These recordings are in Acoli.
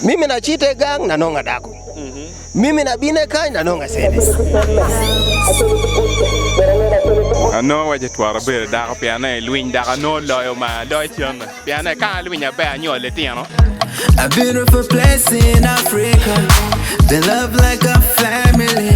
Mimi na cite gang na nongo adako, mimi na bine kany na nongo asene. Anongo waco tworo abedo dako pien ni i lwiny dok anongo loyo ma loyo cente pien ni ka alwiny maber anyuol litino. A beautiful place in Africa. They love like a family.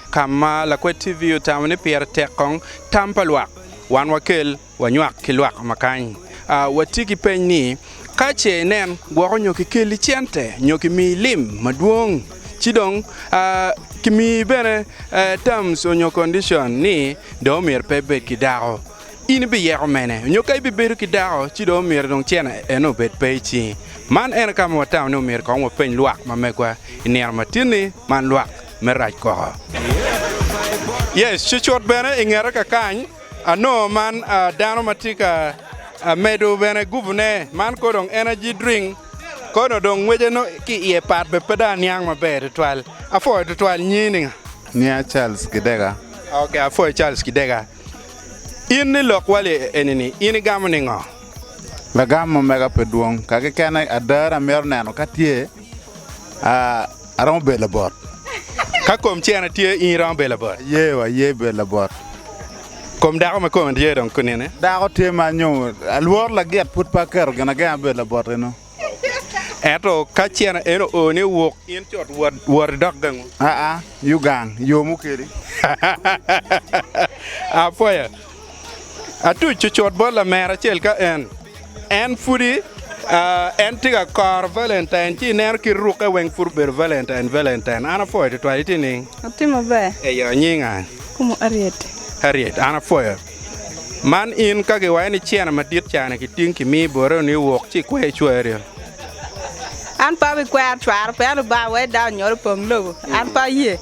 Ka ma lakwed TV otamo ni pire tek kong tam pa lwak, wan wakel wanywak ki lwak ma kany. A Wati ki peny ni, Ka ce inen gwoko nyo kikelli cente nyo kimiyi lim madwong, ci dong a kimiyi bene terms onyo condition ni dong omyero pe ibed ki dako, in ibiyeko mene? Onyo ka ibibedo ki dako ci dong omyero dong cene eno obed pe i cingi? Man eno ka ma watamo ni omyero kong wapeny lwak ma megwa i nino matin-ni man lwak. me rac koko. Yes, cucut bene i ngete ka kany anongo man dano ma tye ka medo bene gubune, man kono dong energy drink kono dong ngwece nongo ki iye pat bene pe dong aniang maber tutwal. Apwoyo tutwal, nyingi ni nga? Nginga Charles Kidega. Ok, apwoyo Charles Kidega. In ni lok wali enini in igamo ningo? Lagam omega pe dwong, ka kekene ada na amito neno ka tye, aa. Aromo bedo labot. Ka kom cene tye, in iromo bedo labot? Aye, aye bedo labot. Kom dako ma kome tye dong kunene? Dako tye ma nyo alworo lagit pud pe aketo gin agenga me bedo labot eno. Ento ka cene eno oo ni wuk, in cut wot wot idok gangu? Aa, yo gang, yo mukeli. Apoya. Atuc cucut bot lamera acel ka en en pudi uh, en tye ka koro Valentine ci ineno kit rukke weng pud obedo Valentine Valentine. An apwoyo tutwal itye ning? Atye maber. Eyo nyinga Kumu Ariet. Harriet, an apwoyo. Man in ka giwayo ni cene madit cani kiting kimi bote ni iwok ci ikwe icwari. An pe abikwero cwaro pe an Lubanga wek dano onyolo pong lobo. An pe aye.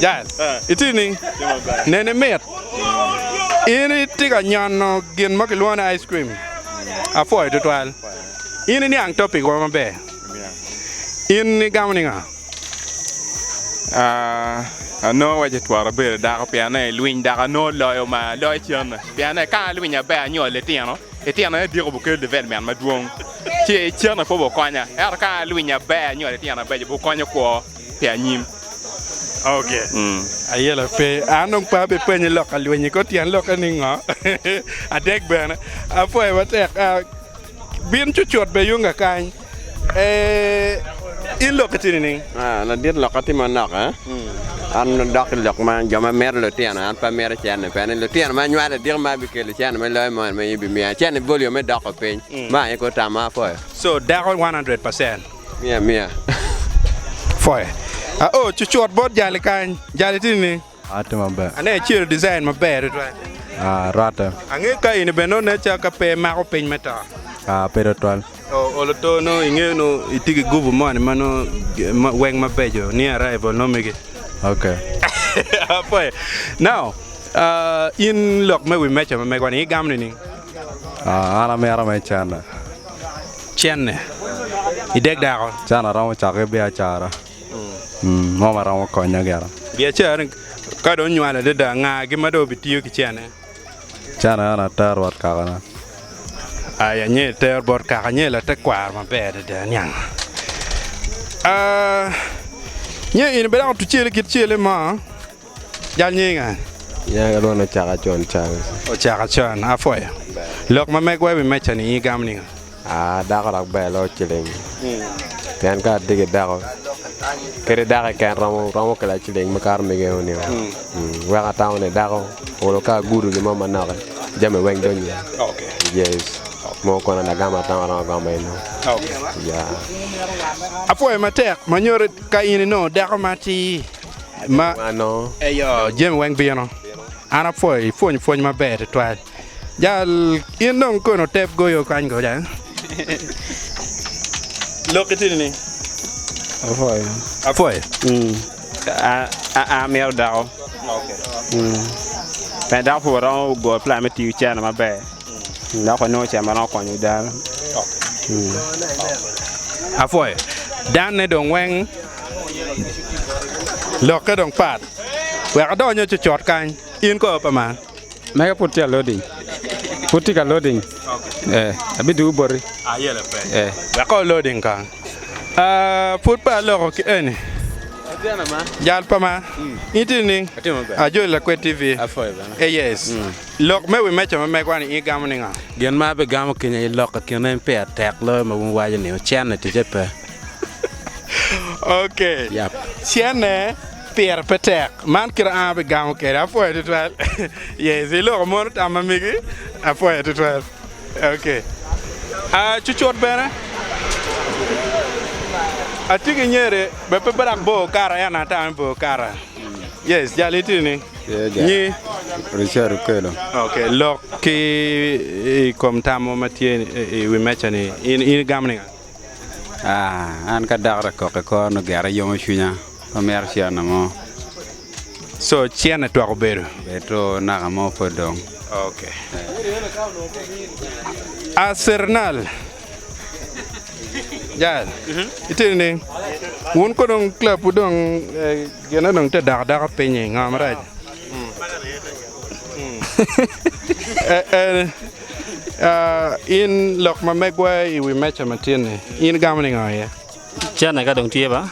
Jaz, itye nining? Neni mit. In itye ka nyono gin mo kilwongo ni ice cream. Apwoyo tutwal. In iniang topic wa maber. In igamo niga? Ano wace twara bedo dako pien ne lwiny dako ano loyo ma loyo cene pien ne ka lwiny abe anyo litino litino ne diko bukel development madwong ci cene po bukonya ero ka lwiny abe anyo litino abe bukonyo kwo. pi anyim. Ok, ayelo pe. An dong pe abipenyi lok ka lweny-nyi kor tyen lokke ni ngo. Adek bene, apwoyo matek. Bin cucut bene yung kakany. In lokke tye nining? Ladit, lokka tye manok. An adok ki lok ma jo ma mito lutino, an pe amito cente pe. Ni lutino ma anywalo ediko ma bikelo cente me loyo moni ma in ibimiya. Cente boli yo me doko piny. Meno aye kor tam ma apwoyo. So, dako one hundred percent? Miya miya foye. Aoo cucut bot jali kany. Jali tye nining? Ati maber. Ane acelo design maber tutwal. Ah, rwatte. Angeyo ka in bene nonne ca ka pe imako piny me to. Ah, pe tutwal. Oh, olo to nongo ingeyo nongo itye ki gubu moni ma nongo weng mabeco ni arrival nongo mege. Ok. Apoye. Now, ah, in lok me wi meja ma megwa-ni igamo nining? An amito me cene. Cene i dek dako. Cene aromo cako ki biacara mo ma romo konya gire. Biacara ni ka dong onywalo adada nga gi ma dong obitiyo ki cene? Cene eno ater bot kakana. Ai anye iter bot kaka anye latekwaro maber adada niang. Ah, nye in obedo dako tucele kit cele mo. Jal nying a? Nyanga dong ocaka con Charles. Ocaka con, apwoyo. Lok ma megwa i wi meca ni in igamo ningo? Aa, dako dok ber loyo ciling. Pien ka atye ki dako, kadi dako keken romo romo kela ciling makato mege o nio. Weko atamo ni dako olo ka agudo gin mo manoki, jami weng donyo. Yes. Mo kono an agamo atamo aromo agomo eno. Ya. Apwoyo matek, ma nyuto ka in inongo dako ma atir. ma eyo jami weng bino. An apwoyo ipwony pwony maber tutwal. Jal in dong kono tep goyo kany goja. Lok itini ni. Apwoyo. Apwoyo. Mm. An mito dako. Mm. Pe dako puro romo go plan me tiyo cene maber. Dok onongo ca ma romo konyo dano. Apwoyo. Danne dong weng lokke dong pat. Wek adongo nyo cocot kany. In kor pa man. Mega pud tye loading. Pud tye ka loading. Eh, abidugu boti. Eh. Wek kor loading kany. Ah, pud pe aloko ki eni. Jal pa man. In tye nining? Atye maber. Ajoli Lakwed TV. Apwoyo bene. Eh, yes. Lok me wi meja ma megwa-ni in igamo ni nga? Gin ma abigamo kenya i lok i kine en peya tek loyo ma wun iwaco ni ocenne ticce pe. Ok. Yap. Cenne pire pe tek. Man kite an abigamo kede. Apwoyo tutwal. Yes, iloko mono tam ma migi. Apwoyo tutwal. Ok. Ah, cucut bene. Atye ki nyeri, be pe birak bor okato ento an atamo ni bor okato. Yes, jal iti ni. Nyi. Richard okelo. Ok, lok ki i kom tam mo ma tye i wi meca-ni. In igamo ninga? Ah, an ka dako ta kok i kor nongo gera yomo cwinya. Pe amito cianna mo. So, cianna twak obedo? Obedo two naka mo pud dong. Ok. A Cernal, Jael, itye nining? Wun konong club-wu dong. Gin onongo tye dako dako pinyi ngo marac in lok ma megwa i wi meca ma tin ni in igamo ningo iye? Cene ka dong tye ba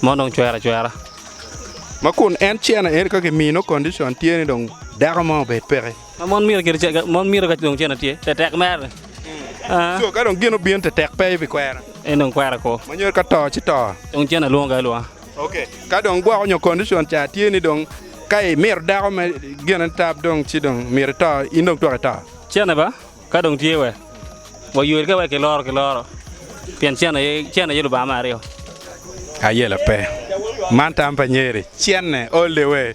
ma onongo cwero acwera. Ma kun en cene eni ka ki mino condition tye ni dong dako mo obed peke. Ma mon mito kit ce mon mito ka dong cene tye te tek mere ni. So ka dong gin obino te tek pe ibi kwera? En dong kwera ko. Ma nyero ka to ci to. Dong cene lwongo kaya lwonga. Ka dong gwoko nyo condition ca tye ni dong ka imito dako me gine tab dong ci dong myero ito, in dong twak ito. Cene ba ka dong tye we waywe ka wek kiloro ki loro pien cene aye cene aye lubanga me aryo. Ayela pe. Man tam pa nyeri. Cene all the way.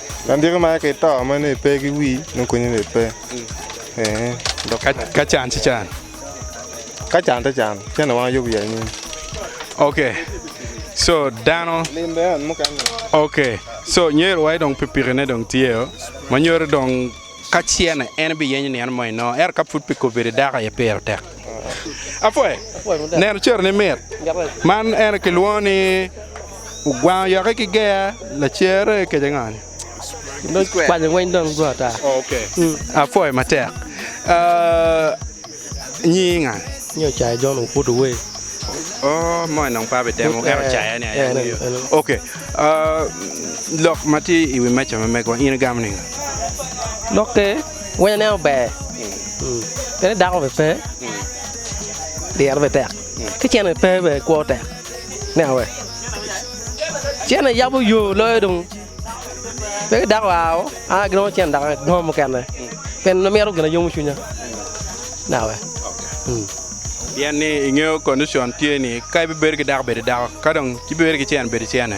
Andiko mere ki to ma nongo ipe ki wii nongo konyi nongo ipe ee dok Ka can ci can. ka can te can cen ni wang yub ya anyim. Ok so dano Lim bene en mukene. ok so nyer wa dong pikipiki ne dong tye o ma nyuto dong ka cene en biyenyo nino mo inongo ento ka pud pikipiki dako aye pire tek. Apwe, neno cero ni mit. Man en aye kilwongo ni ogwango yoke ki ger, lacer aye kec ango ni? Dong kwanyo weng dong go ata. Apwoyo matek. Ah, nyingi nga? Nyo caya John Okuto Wee. Oh, moni dong pe abitemo, en ocaya ni aye angeyo. Ok, ah, lok ma tye i wi meja ma megwa in igamo ni nga? Lokke Wene nen ober, pien dako bene pe, dyere bene tek, ki cente bene pe bene kwo tek. Nen awe? Cente yabo yo loyo dong. Pe ki dako aa o, an aye ginongo cente dok agongo mukene, pien an amito gin ma yomo cwinya. Nen awe? Pien ni ingeyo condition tye ni ka ibibedo ki dako bed idako, ka dong ci ibibedo ki cen bed icene.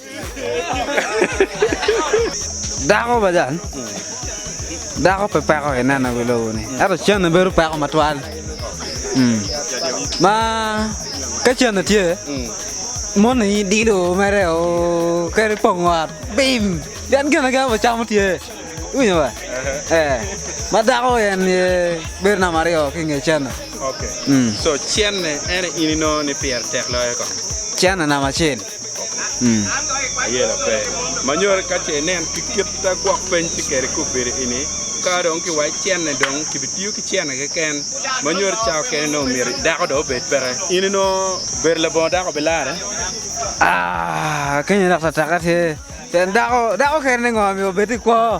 Dako pa jal, dako pe peko ki neno ki lobo ni, ento cene bedo peko matwal. Mm. Ma ka cene tye, moni dilo mere o keri pongo ot, bim, pien gin agen ma camo tye. Iwinyo ba? Eh. Ma dako en ye bedo namba aryo ki nge cene. Okay. Mm. So cenne en ini no ni pire tek loyo ko. Cene namba acel. Aye lape ma nyoti ka ce inen ki kita gwok peny ci keri kub piri i ni ka dong ki waci cene dong ki bi tiyo ki cene keken ma nyoti ca okene nongo myero dako dong obed peke in i nongo bedo labongo dako bi lare? Aa keny dok tataka tye pien dako dako kene ni ngo myero obed ki kwo.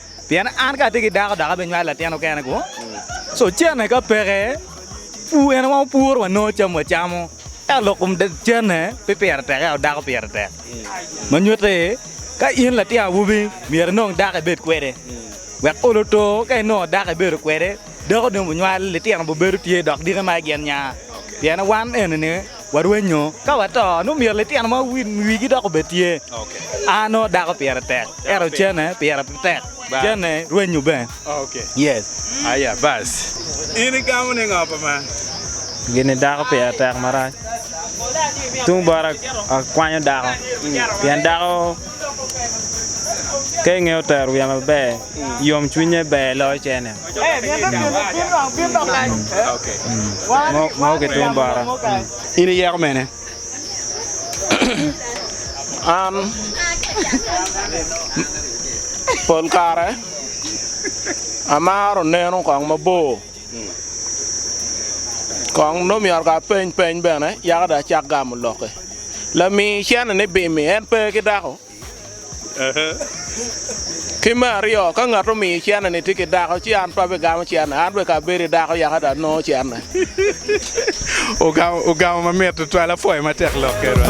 Pien an ka atye ki dako dok abinywalo latin okene kwo, ci ocenne ka peke, pu en wa opuro wanongo cam wacamo. Ento lok kom cenne pe pire tek, ento dako pire tek. Ma nyutte ni, ka in latin awobi, myero inong dako ibed kwede, wek olo oto ka inongo dako ibedo kwede, Dako dong bunywal, litino bubedo tye, dok dike ma gin nya. Pien wan enini warwenyo ka wato, nongo myero litino ma wigi dok obed tye. A nongo dako pire tek, ento ocene pire pe tek, ocene rwenyo bene. Yes. Aya bas, in igamo ni ngo pa man? Gini dako pire tek marac. Tung bota akwanyo dako, pien dako. Ka ingeyo tero wiya maber, yom cwinye ber loyo cene. Mo ki tung bota. In iyeko mene? An pol kare amaro neno kong mabor. Kong nongo myero ka apeny peny bene yaka dong acak gamo lokke. Lami cene ni bim-mi en pe ki dako? Ki me aryo, ka ngat omiyi cene ni tye ki dako ci an pe abigamo cene, an bene ka abedo ki dako yaka dong anongo cene. Ogamo mamit tutwal apwoyo matek lokke rwot.